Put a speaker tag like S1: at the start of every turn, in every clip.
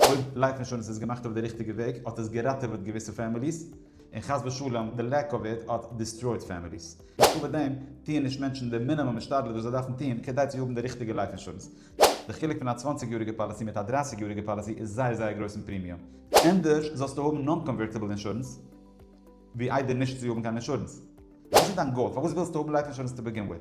S1: אויב לייף אינשורענס איז געמאכט אויף די ריכטיגע וועג האט עס געראטעוועט געוויסע פעמיליס, און חס ושלום די לעק אוו איט האט דיסטרויט פעמיליס. צוליב דעם טוען נישט מענטשן די מינימום השתדלות וואס זיי דארפן טון כדי צו האבן די ריכטיגע לייף אינשורענס. די חילוק פון א צוואַנציק יאריגע פאליסי מיט א דרײַסיק יאריגע פאליסי איז זייער זייער גרויס אין פרימיום. ענדערש זאלסטו האבן נאן-קאנווערטיבל אינשורענס ווי איידער נישט צו האבן קיין אינשורענס. וואס איז דיין גאול? פארוואס ווילסטו האבן לייף אינשורענס טו בעגין וויט?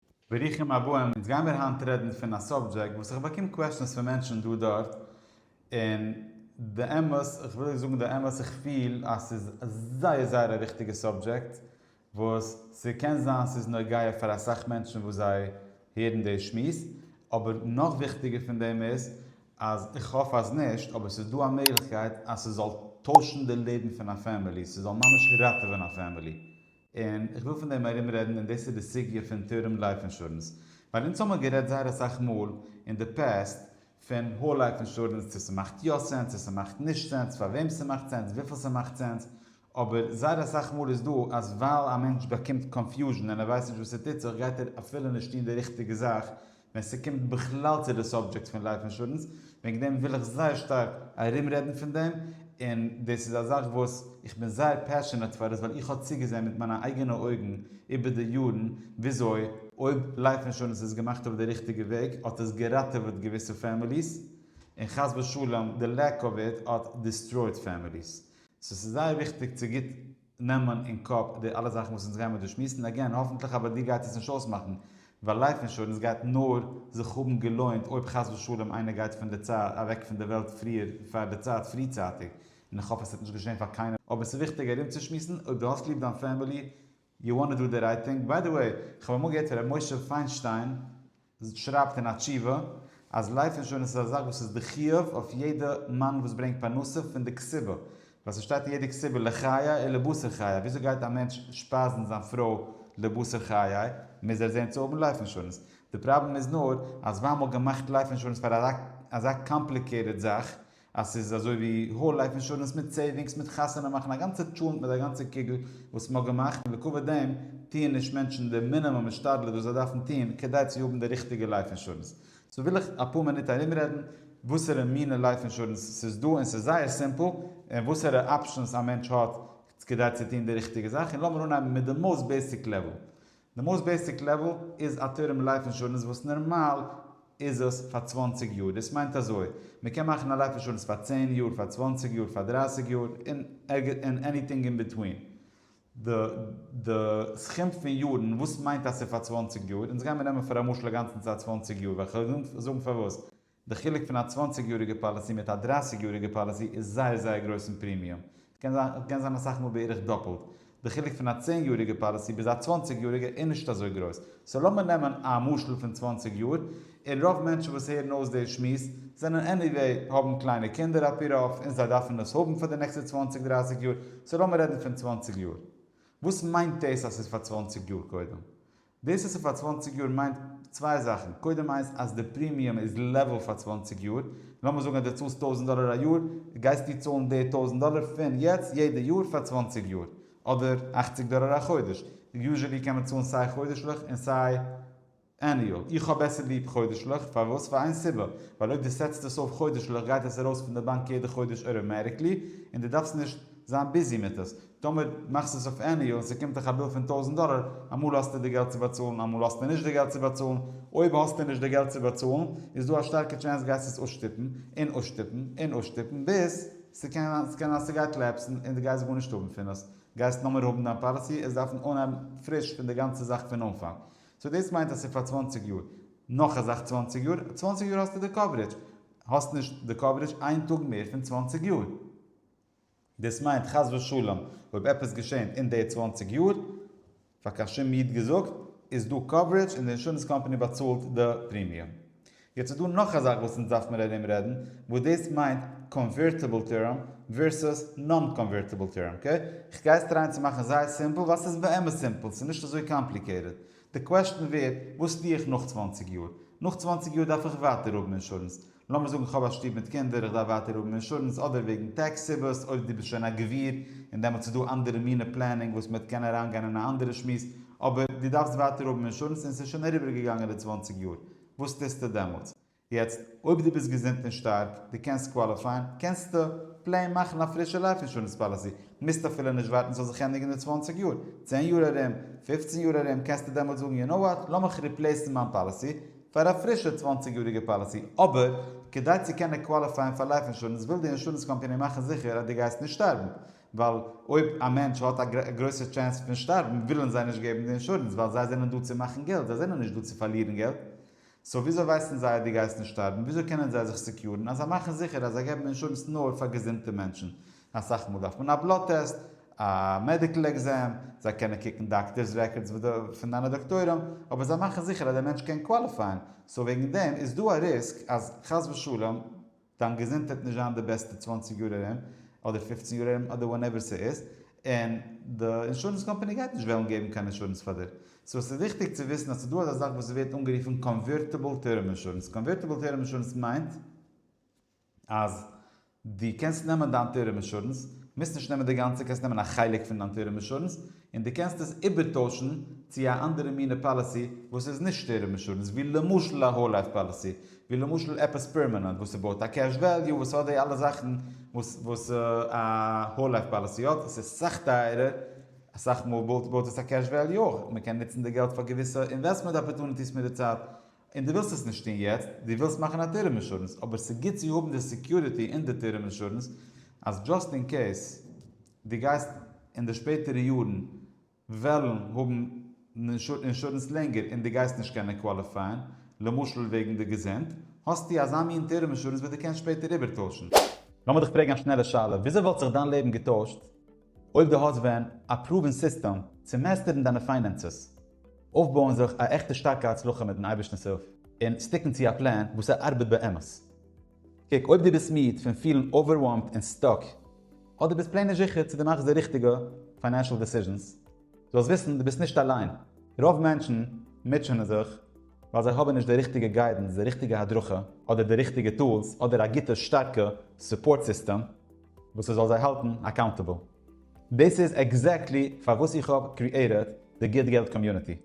S1: ברוכים הבאים, אונז גיימיר היינט רעדן פון א סאבדזשעקט וואס איך באקום קוועשאנס פון מענטשן דא דארט, און די אמת, איך וויל זאגן די אמת, איך פיל אז ס'איז זייער זייער א וויכטיגע סאבדזשעקט, וואס ס'קען זיין ס'איז נוגע פאר אסאך מענטשן וואס זיי הערן די שמועס, אבער נאך וויכטיגער פון דעם איז, אז איך האף אז נישט, אבער ס'איז דא א מעגליכקייט אז ס'זאל טוישן די לעבן פון א פעמילי, ס'זאל ממש ראטעווען א פעמילי. און איך וויל פון דעם ארום רעדן און דאס איז די סוגיא פון טערם לייף אינשורענס, ווייל אונז האמער גערעדט זייער אסאך מאל אין די פעסט פון האול לייף אינשורענס צו ס'מאכט יא סענס צו ס'מאכט נישט סענס פאר וועם ס'מאכט סענס וויפיל ס'מאכט סענס, אבער זייער אסאך מאל איז דא אז ווייל א מענטש באקומט קאנפיוזשן און ער ווייסט נישט וואס ס'טוט זיך גייט ער אפילו נישט טון די ריכטיגע זאך ווען ס'קומט בכלל צו די סאבדזשעקט פון לייף אינשורענס, וועגן דעם וויל איך זייער שטארק ארום רעדן פון דעם, און דאס איז א זאך וואס איך בין זייער פעשענעט פאר עס ווייל איך האב צוגעזען מיט מיינע אייגענע אויגן איבער די יארן וויאזוי אויב לייף אינשורענס איז געמאכט אויף די ריכטיגע וועג האט עס געראטעוועט געוויסע פעמיליס, און חס ושלום די לעק אוו איט האט דיסטרויעט פעמיליס. סאו ס'איז זייער וויכטיג צו גוט. נעמען אין קאפ די אלע זאכן וואס אונז גיימער דא שמועסן, אגעין האפנטליך אבער דיר גייט עס נישט אויסמאכן, ווייל לייף אינשורענס גייט נאר זיך האבן געלוינט אויב חס ושלום איינער גייט פון די צייט אוועק פון די וועלט פריער פאר די צייט פריצייטיג, און איך האף עס וועט נישט געשען פאר קיינעם. אבער ס'איז וויכטיג ארומצושמועסן אויב דו האסט ליב דיין פעמילי, יו וואנט טו דא די רייט טינג, ביי די וועי, כ'האב אמאל געהערט פון ר' משה פיינשטיין, שרייבט אין א תשובה אז לייף אינשורענס איז א זאך וואס איז די חיוב אויף יעדע מאן וואס ברענגט פרנסה פון די כסבה, ווייל ס'שטייט אין יעדע כסבה לחיי און לבשר חיי, וויאזוי גייט א מענטש שפייזן זיין פרוי לבשר חיי, מוז ער זען צו האבן לייף אינשורענס, די פראבלעם איז נאר אז זיי האבן געמאכט לייף אינשורענס פאר אזא קאמפליקעיטעד זאך, אז ס'איז אזוי ווי האול לייף אינשורענס מיט סעיווינגס מיט חתונה מאכן א גאנצע טשולענט מיט א גאנצע קוגל וואס מ'האט געמאכט און לעקובה דעם טוען נישט מענטשן די מינימום השתדלות וואס זיי דארפן טוען כדי צו האבן די ריכטיגע לייף אינשורענס. סאו וויל איך אפאר מינוט ארומרעדן וואסערע מינע לייף אינשורענס ס'איז דא און ס'איז זייער סימפל און וואסערע אפשענס א מענטש האט כדי צו טוען די ריכטיגע זאך און לאמיר אנהייבן מיט די מאוסט בעיסיק לעוועל די מאוסט בעיסיק לעוועל איז א טערם לייף אינשורענס וואס נערמאל איז עס פאר צוואַנציק יאר דאס מיינט אזוי מען קען מאכן א לייף אינשורענס פאר צען יאר פאר צוואַנציק יאר פאר דרײַסיק יאר און עניטינג אין ביטווין די די סכום פון יארן וואס מיינט אז ס'איז פאר צוואַנציק יאר אונז גיימיר נעמען פאר א משל אגאנצן צייט צוואַנציק יאר וכדו' זאגן פארוואס די חילוק פון א צוואנציג יאריגע פאליסי מיט א דרייסיג יאריגע פאליסי איז זייער זייער גרויס אין פרימיום, ס'קען זיין ס'קען זיין אסאך מאל בערך דאפלט, די חילוק פון א צען יאריגע פאליסי ביז א צוואנציג יאריגע איז נישט אזוי גרויס, סאו לאמיר נעמען א משל פון צוואנציג יאר, און רוב מענטשן וואס הערן אויס די שמועס זענען עניוועי האבן קליינע קינדער אפי' רוב און זיי דארפן עס האבן פאר די נעקסטע צוואנציג דרייסיג יאר, סאו לאמיר רעדן פון צוואנציג יאר. וואס מיינט דאס אז ס'איז פאר צוואנציג יאר קודם? דאס אז ס'איז פאר צוואַנציק יאר מיינט צוויי זאכן, קודם איינס אז די פרימיום איז לעוועל פאר צוואַנציק יאר, לאמיר זאגן אז די צאלסט טויזנט דאלער א יאר, גייסטו צאלן די טויזנט דאלער פון יעצט יעדע יאר פאר צוואַנציק יאר, אדער אַכציק דאלער א חודש, יוזשעלי קען מען צאלן סיי חודש'ליך און סיי עניועל, איך האב בעסער ליב חודש'ליך, פארוואס? פאר איין סיבה, ווייל אויב די סעטסט עס אויף חודש'ליך גייט עס ארויס פון די באנק יעדע חודש אוטאמעטיקלי, און די דארפסט נישט זיין ביזי מיט עס, טאמער מאכסטו עס אויף עניו און ס'קומט דיך א ביל פון טויזנט דאלער, אמאל האסטו די געלט צו באצאלן אמאל האסטו נישט די געלט צו באצאלן, אויב האסטו נישט די געלט צו באצאלן איז דא א שטארקע טשענס גייסט עס אויסשטופן און אויסשטופן און אויסשטופן ביז ס'קען זיין ס'קען זיין ס'גייט לעפסן און דו גייסט גארנישט האבן פון דאס, גייסט נאמער האבן דיין פאליסי עס דארפן אנהייבן פריש פון די גאנצע זאך פון אנפאנג, סאו דאס מיינט אז ס'איז פאר צוואַנציק יאר, נאך א זאך צוואַנציק יאר, צוואַנציק יאר האסטו די קאווערידזש, האסט נישט די קאווערידזש איין טאג מער פון צוואַנציק יאר. דאס מיינט חס ושלום אויב עפעס געשענט אין די צוואַנציק יאר, פאר קיין שום איד געזאגט, איז דא קאווערעדזש און די אינשורענס קאמפאני באצאלט די פרימיום. יעצט איז דא נאך א זאך וואס אונז דארף מיר ארום רעדן, וואס דאס מיינט קאנווערטיבל טערם ווערסוס נאן קאנווערטיבל טערם, אקעי? כ'גיי עס טרייען צו מאכן זייער סימפל ווייל ס'איז באמת סימפל, ס'איז נישט אזוי קאמפליקעיטעד, די קוועסטשן ווערט, וואס טו איך נאך צוואַנציק יאר? נאך צוואַנציק יאר דארף איך ווייטער האבן אינשורענס? לאמיר זאגן איך האב א שטוב מיט קינדער, איך דארף ווייטער האבן אינשורענס, אדער וועגן טעקס סיבות, אויב דו ביסט שוין א גביר, און דעמאלטס איז דא אנדערע מינע פלענינג וואס מ'וועט קענען אריינגיין אין א אנדערע שמועס, אבער דו דארפסט ווייטער האבן אינשורענס און ס'איז שוין אריבערגעגאנגען די צוואַנציק יאר, וואס טוסטו דעמאלטס? יעצט אויב דו ביסט געזונט און שטארק, דו קענסט קוואליפייען, קענסטו פלעין מאכן א פרישע לייף אינשורענס פאליסי, מוזט אפילו נישט ווארטן ס'זאל זיך ענדיגן אין צוואַנציק יאר, צען יאר ארום, פֿופֿצן יאר ארום קענסטו דעמאלטס זאגן יו נאו וואט, לאמיך ריפלעיסן מיין פאליסי פאר א פרישע צוואַנציק יאריגע פאליסי, אבער כדי צו קענען קוואליפייען פאר לייף אינשורענס וויל די אינשורענס קאמפאני מאכן זיכער אז דו גייסט נישט שטארבן, ווייל אויב א מענטש האט א גרויסע טשענס פון שטארבן ווילן זיי נישט געבן די אינשורענס ווייל זיי זענען דא צו מאכן געלט, זיי זענען נישט דא צו פארלירן געלט, סאו וויאזוי ווייסן זיי אז דו גייסט נישט שטארבן? וויאזוי קענען זיי זיך סעקיורן? אז זיי מאכן זיכער אז זיי געבן אינשורענס נאר פאר געזונטע מענטשן. אסאך מאל דארף מען א בלוט טעסט, א מעדיקל עקזעם, זיי קענען קוקן דאקטערס רעקארדס וכדו' פון דיינע דאקטוירים, אבער זיי מאכן זיכער אז דער מענטש קען קוואליפייען. סאו וועגן דעם איז דא א ריסק אז חס ושלום. דיין געזונט וועט נישט זיין די בעסטע צוואַנציק יאר ארום, אדער פֿופֿצן יאר ארום, אדער ווענעווער ס'איז, און די אינשורענס קאמפאני גייט נישט וועלן געבן קיין אינשורענס פאר דיר. סאו ס'איז וויכטיג צו וויסן אז ס'דא אזא זאך וואס ווערט אנגערופן קאנווערטיבל טערם אינשורענס. קאנווערטיבל טערם אינשורענס מיינט אז דו קענסט נעמען דיין טערם אינשורענס, מוזט נישט נעמען די גאנצע, קענסט נעמען א חלק פון דיין טערם אינשורענס, און דו קענסט עס איבערטוישן צו א אנדערע מינע פאליסי וואס איז נישט טערם אינשורענס ווי למשל א האול לייף פאליסי ווי למשל עפעס פערמענענט וואס ס'בויט א קעש וועליו וואס האט די אלע זאכן וואס א האול לייף פאליסי האט וואס איז סאך טייערער אסאך מאל בויט עס א קעש וועליו אויך מ'קען נוצן די געלט פאר געוויסע אינוועסטמענט אפערטוניטיס מיט די צייט און דו ווילסט עס נישט טון יעצט דו ווילסט מאכן א טערם אינשורענס אבער ס'גוט צו האבן די סעקיוריטי אין די טערם אינשורענס אז דזשאסט אין קעיס. דו גייסט אין די שפעטערע יארן וועלן האבן אינשורענס לענגער און דו גייסט נישט קענען קוואליפייען, למשל וועגן די געזונט, האסטו אזא מין טערם אינשורענס וואס דו קענסט שפעטער איבערטוישן. לאמיר דיך פרעגן א שנעלע שאלה, וויאזוי וואלט זיך דיין לעבן געטוישט אויב דו האסט ווען א פראווען סיסטעם צו מעסטערן דיינע פיינענסעס, אויפבויען זיך א עכטע שטארקע הצלחה מיט'ן אייבערשטנ'ס הילף, און סטיקן צו א פלען וואס ער ארבעט באמת? קוק אויב דו ביסט מיד פון פילן אווערוועלמד און סטאק, אדער דו ביסט פלעין נישט זיכער צו דו מאכסט די ריכטיגע פיינענשאל דעסיזשענס, זאלסט וויסן דו ביסט נישט אליין, רוב מענטשן מוטשענען זיך ווייל זיי האבן נישט די ריכטיגע גיידענס, די ריכטיגע הדרכה, אדער די ריכטיגע טולס, אדער א גוטע שטארקע סופארט סיסטעם וואס ס'זאל זיי האלטן אקאונטעבל. דאס איז עקזעקטלי פארוואס איך האב קריעיטעד די גוט געלט קאמיוניטי.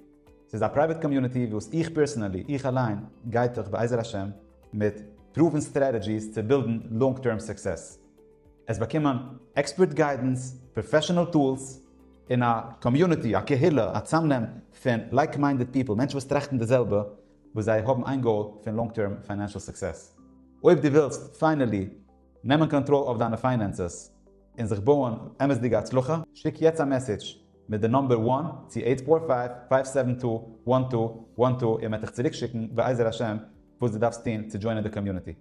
S1: ס'איז א פרייוועט קאמיוניטי וואס איך פערסענעלי, איך אליין, גיי דורך בעזר השם מיט פרואוון סטרעטעדזשיס צו בילדן לאנג טערם סוקסעס. עס באקומען עקספערט גיידענס, פראפעשענעל טולס, און א קאמיוניטי, א קהילה, א צאמנעם פון לייק מיינדעד פיפל, מענטשן וואס טראכטן די זעלבע, וואס זיי האבן איין גאול פון לאנג טערם פיינענשעל סוקסעס. אויב דו ווילסט פיינעלי נעמען קאנטראל אויף דיינע פיינענסעס און זיך בויען אמת'דיגע הצלחה, שיק יעצט א מעסעדזש מיט די נאמבער וואן צו עיט פאור פייוו פייוו סעווען טו וואן טו וואן טו און מען וועט דיך צוריק שיקן בעזר השם וואס די דארפסט טון צו דזשוינען די קאמיוניטי.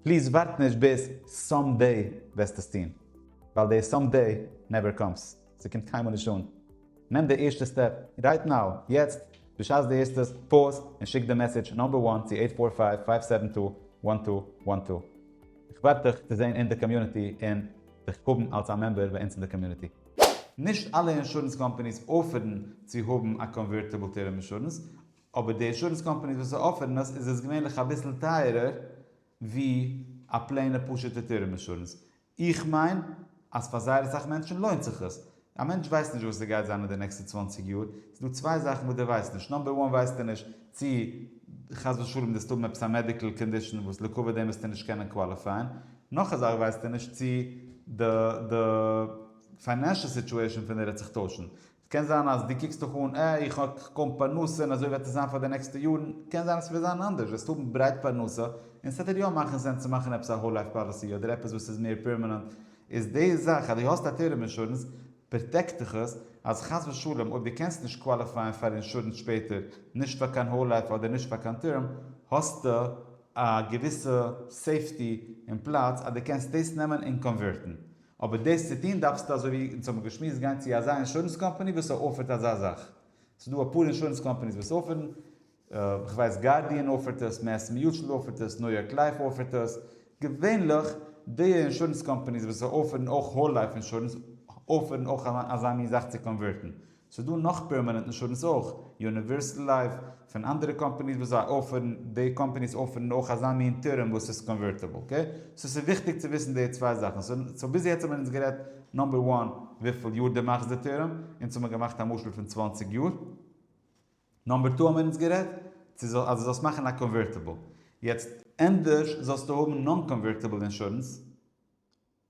S1: פליז ווארט נישט ביז סאם דעי וועסט עס טון ווייל די סאם דעי נעווער קאמס ס'קומט קיינמאל נישט אן. נעם די ערשטע סטעפ רייט נאו יעצט בשעת די הערסט עס פאוז און שיק די מעסעדזש נאמבער וואן צו עיט פאור פייוו פייוו סעווען טו וואן טו וואן טו. איך ווארט דיך צו זען אין די קאמיוניטי און דיך האבן אלס א מעמבער ביי אונז אין די קאמיוניטי. נישט אלע אינשורענס קאמפאניס אפערן צו האבן א קאנווערטיבל טערם אינשורענס, אבער די אינשורענס קאמפאניס וואס אפערן עס איז עס געווענליך אביסל טייערער ווי א פלעינע פשוטע טערם אינשורענס. איך מיין אז פאר זייער אסאך מענטשן לוינט זיך עס. א מענטש ווייסט נישט וואס עס גייט זיין אין די נעקסטע צוואַנציק יאר, ס'איז דא צוויי זאכן וואס דו ווייסט נישט, נאמבער וואן ווייסטו נישט צו חס ושלום דארפסט האבן עפעס א מעדיקל קאנדישאן וואס לעיקוואד דעם וועסטו נישט קענען קוואליפייען, נאך א זאך ווייסט ער נישט צו די די פיינענשעל סיטועשען פון די וועט זיך טוישן. ס'קען זיין אז דו קוקסט דיך אן אה איך האב קוים פרנסה און אזוי וועט עס זיין פאר די נעקסטע יארן, קען זיין אז ס'וועט זיין אנדערש, וועסט האבן ברייט פרנסה, און ס'וועט דיר יא מאכן סענס צו מאכן עפעס א האול לייף פאליסי אדער עפעס וואס איז מער פערמענענט, איז די זאך אז דו האסט א טערם אינשורענס פראטעקט דיך עס אז חס ושלום אויב דו קענסט נישט קוואליפייען פאר אינשורענס שפעטער, נישט פאר קיין האול לייף אדער נישט פאר קיין טערם, האסטו. א געוויסע סעיפטי און פלאץ אז דו קענסט דאס נעמען און קאנווערטן, אבער דאס צו טון דארפסטו אזוי ווי אונז האבן געשמועסט גיין צו אזא אינשורענס קאמפאני וואס אפערט אזא זאך, ס'איז דא אפאר אינשורענס קאמפאניס וואס אפערן, כ'ווייס גארדיען אפערט עס, מעס מיוטשעל אפערט עס, ניו יארק לייף אפערט עס, געווענליך די אינשורענס קאמפאניס וואס אפערן אויך האול לייף אינשורענס אפערן אויך אזא מין זאך צו קאנווערטן, ס'איז דא נאך פערמענענט אינשורענס אויך, יוניווערסעל לייף, פון אנדערע קאמפאניס וואס זיי אפערן, די קאמפאניס אפערן אויך אזא מין טורם וואס איז קאנווערטעבל, אקעי? סאו ס'איז וויכטיג צו וויסן די צוויי זאכן, סאו ביז יעצט האבן מיר אונז גערעדט נאמבער וואן וויפיל יאר דו מאכסט די טורם, אונז האבן מיר געמאכט א משל פון צוואַנציק יאר, נאמבער טו האבן מיר אונז גערעדט צו אז דו זאלסט מאכן א קאנווערטעבל, יעצט ענדערש זאלסטו האבן נאן קאנווערטעבל אינשורענס,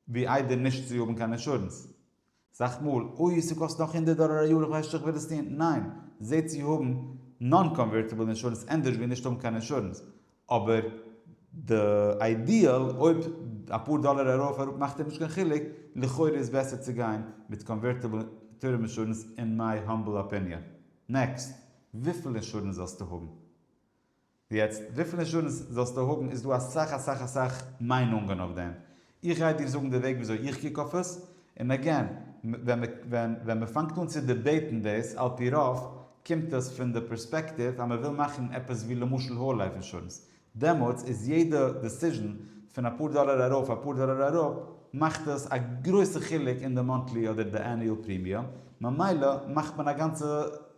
S1: ווי איידער נישט צו האבן קיין אינשורענס סאך מאל, אוי ס'קאסט נאך הונדערט דאלער א יאר איך ווייס נישט צו איך וויל עס טון, ניין, זע צו האבן נאן קאנווערטיבל אינשורענס ענדערש ווי נישט האבן קיין אינשורענס, אבער די איידיעל אויב אפאר דאלער ארויף אראפ מאכט דיר נישט קיין חילוק, לכאורה איז בעסער צו גיין מיט קאנווערטיבל טורם אינשורענס אין מיי האמבל אפיניאן. נעקסט, וויפיל אינשורענס זאלסטו האבן? יעצט וויפיל אינשורענס זאלסטו האבן איז דא אסאך אסאך אסאך מיינונגען אויף דעם, איך גיי דיר זאגן די וועג וויאזוי איך קוק אויף עס, און עגעין ווען מ'פאנגט אן צו דיבעיטן דאס, על פי רוב קומט עס פון די פערספעקטיוו אז מ'וויל מאכן עפעס ווי למשל האול לייף אינשורענס, דעמאלטס איז יעדע דעסיזשן פון אפאר דאלער ארויף אפאר דאלער אראפ מאכט עס א גרויסע חילוק אין די מאנטלי אדער די עניועל פרימיום, ממילא מאכט מען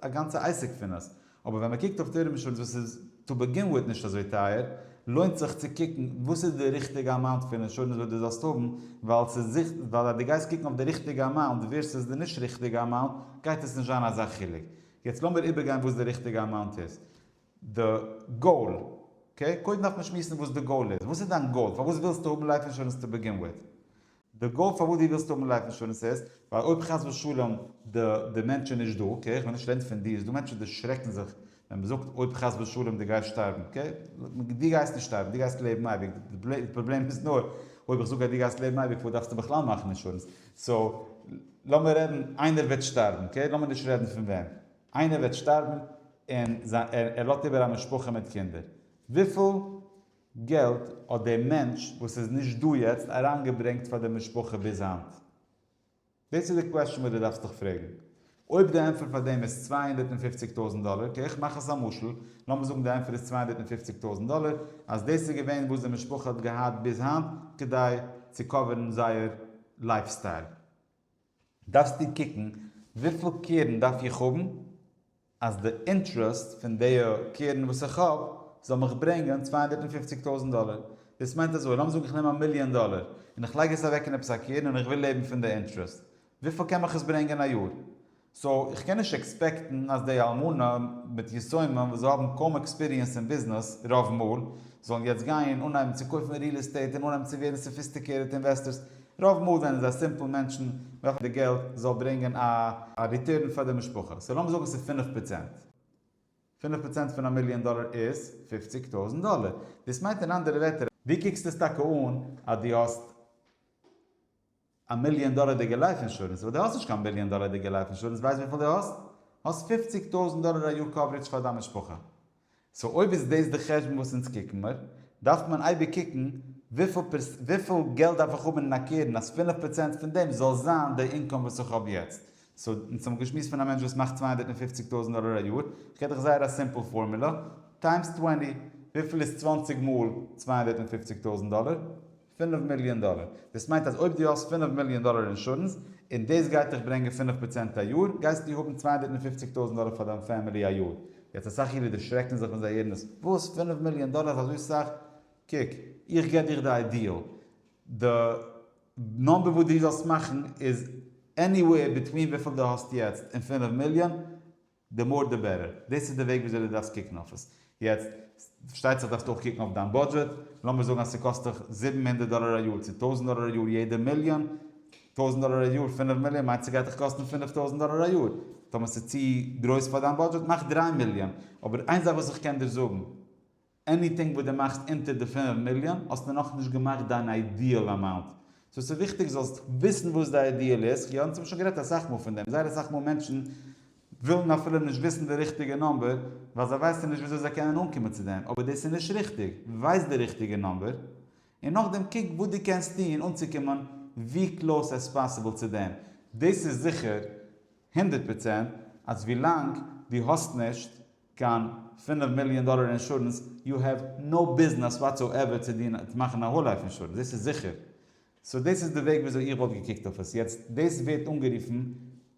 S1: א גאנצע עסק פון עס, אבער ווען מען קוקט אויף טערם אינשורענס וואס איז טו בעגין וויט נישט אזוי טייער, לוינט זיך צו קוקן וואס איז די ריכטיגע אמאונט פון אינשורענס וואס דו זאלסט האבן, ווייל ווייל אז דו גייסט קוקן אויף די ריכטיגע אמאונט ווערסעס די נישט ריכטיגע אמאונט גייט עס נישט זיין אזא חילוק. יעצט לאמיר איבערגיין וואס די ריכטיגע אמאונט איז. די גאול. קודם דארף מען שמועסן וואס די גאול איז. וואס איז דיין גאול? פארוואס ווילסטו האבן לייף אינשורענס טו בעגין וויט? די גאול פארוואס דו ווילסט האבן לייף אינשורענס איז, ווייל אויב חס ושלום די די מענטש איז נישט דא, אקעי, איך בין נישט רעדן פון דיר, ס'דא מענטשן די שרעקן זיך ווען מ'זאגט אויב חס ושלום דו גייסט שטארבן, אקעי, דו גייסט נישט שטארבן, דו גייסט לעבן אייביג, די פראבלעם איז נאר אויב איך זאג אז דו גייסט לעבן אייביג פארוואס דארפסטו בכלל מאכן אינשורענס, סאו לאמיר רעדן איינער וועט שטארבן, אקעי, לאמיר נישט רעדן פון וועם, איינער וועט שטארבן און ער לאזט איבער א משפחה מיט קינדער, וויפיל געלט האט דער מענטש וואס איז נישט דא יעצט אריינגעברענגט פאר די משפחה ביז היינט? דאס איז די קוועשאן וואס דו דארפסט דיך פרעגן. אויב די ענטפער פאר דעם איז צוויי הונדערט און פופציג טויזנט דאלער, אקעי איך מאך עס א משל, לאמיר זאגן די ענטפער איז צוויי הונדערט און פופציג טויזנט דאלער, אז דאס איז געווען וואס די משפחה האט געהאט ביז היינט כדי צו קאווערן זייער לייף סטייל. דארפסטו קוקן וויפיל קרן דארף איך האבן אז די אינטרעסט פון די קרן וואס איך האב זאל מיך ברענגען צוויי הונדערט און פופציג טויזנט דאלער, דאס מיינט אזוי לאמיר זאגן איך נעם א מיליאן דאלער און איך לייג עס אוועק אין עפעס א קרן און איך וויל לעבן פון די אינטרעסט, וויפיל קען מיך עס ברענגען א יאר? סאו איך קען נישט עקספעקטן אז די אלמנה מיט יתומים וואס זיי האבן קוים עקספיריענס אין ביזנעס רוב מאל, זאלן יעצט גיין און אנהייבן צו קויפן ריעל עסטעיט און אנהייבן צו ווערן סאפיסטיקירעט אינוועסטערס, רוב מאל זענען זיי סימפל מענטשן וועלכע די געלט זאל ברענגען א. א ריטורן פאר די משפחה. סאו לאמיר זאגן ס'איז פֿינף פראצענט. פֿינף פראצענט פון א מיליאן דאלער איז פֿופֿציק טויזנט דאלער. דאס מיינט אין אנדערע ווערטער. ווי קוקסטו עס טאקע אן אז דו האסט א מיליאן דאלערדיגע לייף אינשורענס? ווייל דו האסט נישט קיין מיליאן דאלערדיגע לייף אינשורענס. ווייסט וויפיל דו האסט? האסט פֿופֿציק טויזנט דאלער א יאר קאווערעדזש פאר דיין משפחה. סאו אויב איז דאס די חשבון וואס אונז קוקן מיר, דארף מען אייביג קוקן וויפיל געלט דארף איך האבן אין א קרן אז פֿינף פראצענט פון דעם זאל זיין די אינקאם וואס איך האב יעצט. סאו אונז האבן געשמועסט פון א מענטש וואס מאכט צוויי הונדערט און פֿופֿציק טויזנט דאלער א יאר, איך געב דיך זייער א סימפל פארמולא, טיימס צוואַנציק, וויפיל איז צוואַנציק מאל צוויי הונדערט און פֿופֿציק טויזנט דאלער? פינף מיליאן דאלער. דאס מיינט אז אויב דו האסט פינף מיליאן דאלער אינשורענס, און דאס גייט דיך ברענגען פינף פראצענט א יאר, גייסטו האבן צוויי הונדערט און פופציג טויזנט דאלער פאר דיין פעמילי א יאר. יעצט אסאך אידן דערשרעקן זיך ווען זיי הערן דאס, וואס? פינף מיליאן דאלער איז אזוי סאך? קוק, איך גיב דיך די איידיעל. די נומבער וואס דו זאלסט מאכן איז עניוועיר ביטווין וויפיל דו האסט יעצט און פינף מיליאן, די מאר די בעטער. דאס איז די וועג וויאזוי דו דארפסט קוקן אויף עס. יעצט, פארשטייט זיך דארפסטו אויך קוקן אויף דיין בודזשעט. לאמיר זאגן אז ס'קאסט דיך זיבן הונדערט דאלער א יאר, צו טויזנט דאלער א יאר יעדע מיליאן. טויזנט דאלער א יאר פינף מיליאן מיינט ס'גייט דיך קאסטן פינף טויזנט דאלער א יאר. טאמער ס'איז צו גרויס פאר דיין בודזשעט, מאך דריי מיליאן. אבער איין זאך וואס איך קען דיר זאגן. עניטינג וואס דו מאכסט אונטער די פינף מיליאן האסטו נאכנישט געמאכט דיין איידיעל אמאונט. סאו ס'איז וויכטיג זאלסט וויסן וואס די איידיעל איז, יא אונז האבן שוין גערעדט אסאך מאל פון דעם, זייער אסאך מאל מענטשן ווילן אפילו נישט וויסן די ריכטיגע נאמבער ווייל זיי ווייסן נישט וויאזוי זיי קענען אנקומען צו דעם, אבער דאס איז נישט ריכטיג, ווייס די ריכטיגע נאמבער און נאכדעם קוק וואס דו קענסט טון אנצוקומען ווי קלאוס עז פאסיבל צו דעם, דאס איז זיכער הונדערט פראצענט אז ווילאנג דו האסט נישט קיין פינף מיליאן דאלער אינשורענס, יו העוו נאו ביזנעס וואטסאועווער צו דיר צו מאכן א האול לייף אינשורענס, דאס איז זיכער. סאו דאס איז די וועג וויאזוי איך וואלט געקוקט אויף עס. יעצט, דאס ווערט אנגערופן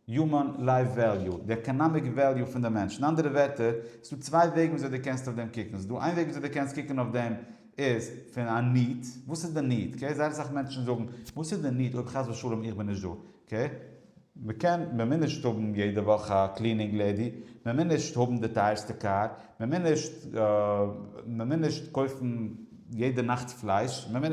S1: יומען לייף וועליו, די עקאנאמיק וועליו פון די מענטש. אין אנדערע ווערטער, עס איז דא צוויי וועגן וויאזוי דו קענסט אויף דעם קוקן. עס איז דא איין וועג וויאזוי דו קענסט קוקן אויף דעם איז פון א ניד, וואס איז די ניד? אקעי, זייער אסאך מענטשן זאגן, וואס איז די ניד אויב חס ושלום איך בין נישט דא? ק, מ'קען מ'מוז נישט האבן יעדע וואך א קלינינג לעדי, מ'מוז נישט האבן די טייערסטע קאר, מ'מוז נישט מ'מוז נישט קויפן יעדע נאכט פלייש, מ'מוז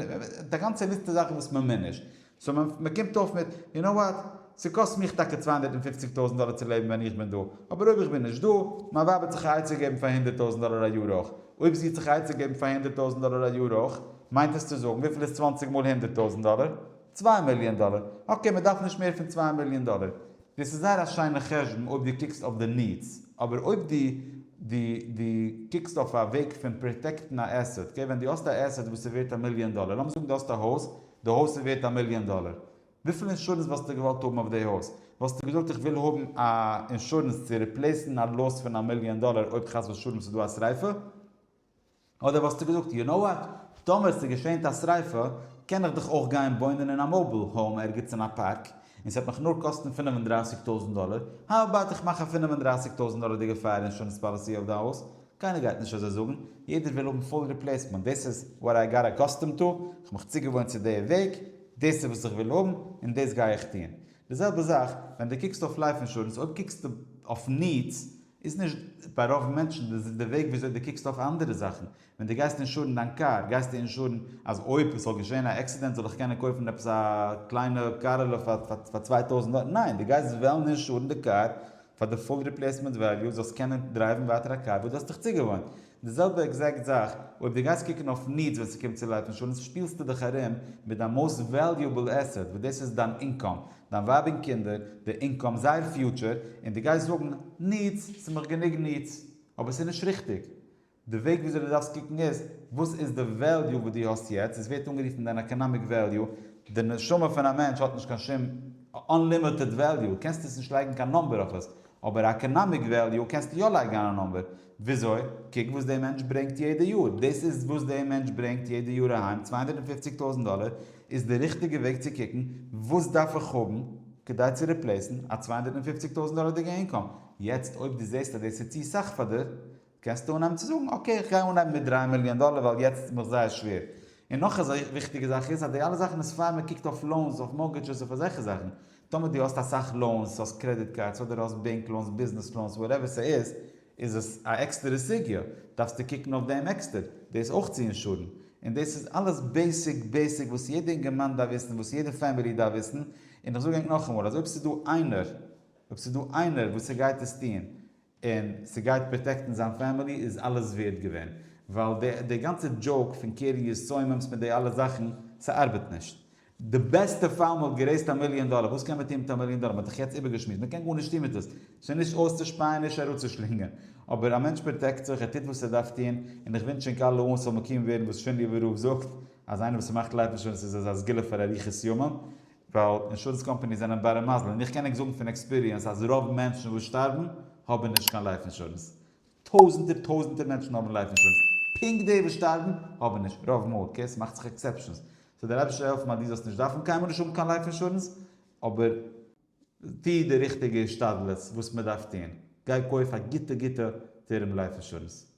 S1: א גאנצע ליסטע זאכן וואס מ'מוז נישט, סאו מ'קומט אויף מיט, יו נאו וואט, ס'קאסט מיך טאקע צוויי הונדערט און פופציג טויזנט דאלער צו לעבן ווען איך בין דא, אבער אויב איך בין נישט דא, מיין ווייב האט זיך א עצה געבן פאר הונדערט טויזנט דאלער א יאר אויך, אויב זי האט זיך א עצה געבן פאר הונדערט טויזנט דאלער א יאר אויך, מיינט עס צו זאגן, וויפיל איז צוואנציג מאל הונדערט טויזנט דאלער? צוויי מיליאן דאלער, אקעי מען דארף נישט מער פון צוויי מיליאן דאלער, דאס איז זייער א שיינע חשבון אויב דו קוקסט אויף די נידס, אבער אויב דו דו דו קוקסט אויף א וועג פון פראטעקטן א עסעט, אקעי ווען דו האסט א עסעט וואס איז ווערט א מיליאן דאלער, לאמיר זאגן דו האסט א הויז, די הויז איז ווערט א מיליאן דאלער, וויפיל אינשורענס וואלסטו געוואלט האבן אויף די הויז? וואלסטו געזאגט איך וויל האבן א אינשורענס צו ריפלעיסן א לאס פון א מיליאן דאלער אויב חס ושלום ס'איז דא א שריפה? אדער וואלסטו געזאגט, יו נאו וואט, טאמער ס'געשענט א שריפה, קען איך דאך אויך גיין וואוינען אין א מאוביל האום ערגעץ אין א פארק, און ס'וועט מיך נאר קאסטן פֿינף און דרײַסיק טויזנט דאלער, האו אבאוט איך מאך א פֿינף און דרײַסיק טויזנט דאלערדיגע פייער אינשורענס פאליסי אויף די הויז? קיינער גייט נישט אזוי זאגן, יעדער וויל האבן פול ריפלעיסמענט, דאס איז וואט איי גאט אקאסטומד טו, כ'האב מיך צוגעוואוינט צו די וועג, דאס איז וואס איך וויל האבן, און דאס גיי איך טון. די זעלבע זאך ווען די קוקסט אויף לייף אינשורענס, אויב קוקסטו אויף נידס איז נישט ביי רוב מענטשן די וועג וויאזוי די קוקסט אויף אנדערע זאכן, ווען די גייסט אינשורן דיין קאר גייסטו אינשורן אז אויב עס זאל געשען א עקסידענט זאל איך קענען קויפן עפעס א קליינע קארעלע פאר צוויי טויזענט דאלער, ניין די גייסט וועלן אינשורן די קאר פאר די פול ריפלעיסמענט וועליו זאלסט קענען דרייוון ווייטער א קאר וואס דו האסט דיך צוגעוואוינט. די זעלבע עקזעקט זאך אויב דו גייסט קוקן אויף נידס ווען ס'קומט צו לייף אינשורענס שפילסטו דיך ארום מיט דיין מאוסט וועליובעל עסעט וואס דאס איז דיין אינקאם, דיין ווייב און קינדער, די אינקאם, זייער פיוטשער, און דו גייסט זאגן, נידס, ס'איז מיך גענוג נידס. אבער ס'איז נישט ריכטיג. די וועג וויאזוי דו דארפסט קוקן איז, וואס איז די וועליו וואס דו האסט יעצט, עס ווערט אנגערופן דיין עקאנאמיק וועליו, די נשמה פון א מענטש האט נישט קיין שום אנלימיטעד וועליו, קענסט עס נישט לייגן קיין נאמבער אויף עס, אבער א עקאנאמיק וועליו קענסטו יא לייגן אן א נאמבער, וויאזוי, קוק וואס די מענטש ברענגט יעדע יאר, דאס איז וואס די מענטש ברענגט יעדע יאר אהיים, צוויי הונדערט און פופציג טויזנט דאלער איז די ריכטיגע וועג צו קוקן, וואס דארף איך האבן כדי צו ריפלעיסן א צוויי הונדערט און פופציג טויזנט דאלערדיגע אינקאם, יעצט אויב דו זעסט אז דאס איז צו סאך פאר דיר, קענסטו אנהייבן צו זאגן, אקעי איך גיי אנהייבן מיט דרײַ מיליאן דאלער ווייל יעצט איז מיך זייער שווער. און נאך א וויכטיגע זאך איז אז די אלע זאכן איז פאר מען קוקט אויף לאונס, אויף מארגעדזשעס, אויף אזעלכע זאכן. טאמער דו האסט אסאך לאונס, האסט קרעדיט קארדס, אדער האסט בענק לאונס, ביזנעס לאונס, וואטעווער ס'איז, איז עס א עקסטערע סוגיא, דארפסטו קוקן אויף דעם עקסטער, דאס אויך צו אינשורן. און דאס איז אלעס בעיסיק בעיסיק וואס יעדע אינגערמאן דארף וויסן, וואס יעדע פעמילי דארף וויסן. און איך זאג ענק נאכאמאל, אז אויב ס'איז דא איינער, אויב ס'איז דא איינער וואס ס'גייט עס טון, און ס'גייט פראטעקטן זיין פעמילי איז אלעס ווערד געווען, ווייל די די גאנצע דזשאוק פון קרן יסויממס מיט די אלע זאכן, ס'ארבעט נישט. די בעסטע פאל מ'וואלט גערעיזט א מיליאן דאלער, וואס קען מען טון מיט א מיליאן דאלער? מ'האט דאך יעצט איבערגעשמועסט, מ'קען גארנישט טון מיט עס, ס'איז נישט אויסצושפייען נישט אראפצושלינגען, אבער א מענטש פראטעקט זיך, ער טוט וואס ער דארף טון, און איך ווינטש ענק אלע אן ס'זאל מקוים ווערן וואס שינדליווער רב זאגט, אז איינער וואס ס'מאכט לייף נישט ווען עס איז אזא סגולה פאר אריכות ימים, ווייל אינשורענס קאמפאניס זענען בארע מזל און איך קען ענק זאגן פון עקספיריענס אז רוב מענטשן וואס שטארבן האבן נישט קיין לייף אינשורענס, טויזענטער טויזענטער מענטשן האבן לייף אינשורענס, פונקט די וואס שטארבן האבן נישט, רוב מאל, אקעי ס'מאכט זיך עקסעפשענס, סאו דער אייבערשטער זאל העלפן אז דו זאלסט נישט דארפן קיינמאל נישט האבן קיין לייף אינשורענס, אבער טו די ריכטיגע השתדלות וואס מ'דארף טון, גיי קויף א גוטע גוטע טערם לייף אינשורענס.